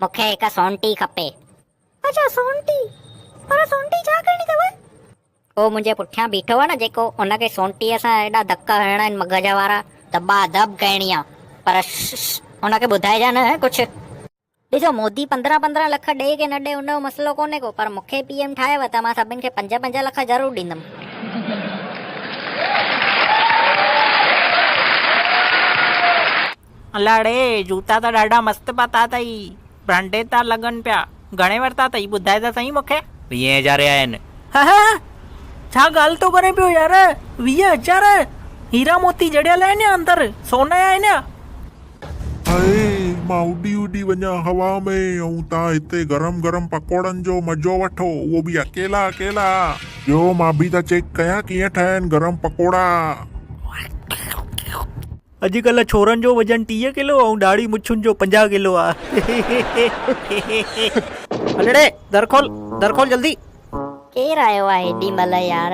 مون کي هڪ سونٽي کپي. اڇا سونٽي! پر سونٽي ڇا ڪرڻي اٿو؟ اهو منهنجي پٺيان بيٺو آهي نه جيڪو ان کي سونٽيء سان ايڏا ڌڪ هڻڻا آهن مغز وارا. دٻا دٻ ڪرڻي آهي. پر شش ان کي ٻڌائجان نه ڪجهه. ڏسو مودي پندرهن پندرهن لک ڏئي ڪي نه ڏئي ان جو مسئلو ڪونهي ڪو پر مون کي پي ايم ٺاهيو ته مان سڀني کي پنج پنج لک ضرور ڏيندم. الاڙي جوتا ته ڏاڍا مست پاتا اٿئي برانڊيڊ ٿا لڳن پيا گهڻي ورتا اٿئي ٻڌائي ته سهي مون کي. ويهين هزارين جا آهن. هه هه ڇا ڳالهه ٿو ڪرين پيو يار ويهه هزار هيرا موتي جڙيل آهن يا اندر سون آهن يا. هيء مان اڏي اڏي وڃان هوا ۾ ۽ توهان هتي گرم گرم پڪوڙن جو مزو وٺو اهو به اڪيلا اڪيلا. ڏيو مان به ته چيڪ ڪيان ڪيئن ٺهن گرم پڪوڙا. اڄڪلهه ڇورن جو وزن ٽيهه ڪلو ۽ ڏاڙهي مڇن جو پنجاهه ڪلو آهي. الڙي در کول در کول جلدي. ڪير آيو آ هيڏي مهل يار.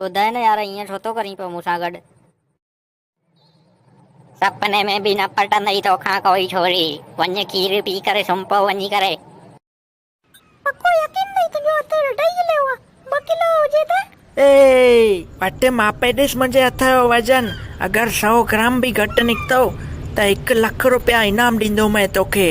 ٻڌاء نه يار ائين ڇو ٿو ڪرين پيو مون سان گڏ. سپني ۾ به نه پٽندئي توکان ڪوئي ڇوري. وڃ کير پي ڪري سمهه پئو وڃي ڪري. پڪو يقين اٿئي تنهنجو اتي رڍا ئي هليو آ ٻه ڪلو هجي ته. اي پٽي ماپي ڏس منهنجي هٿ جو وزن اگر سؤ گرام به گهٽ نڪتو ته هڪ لک روپيا انعام ڏيندومئي توکي.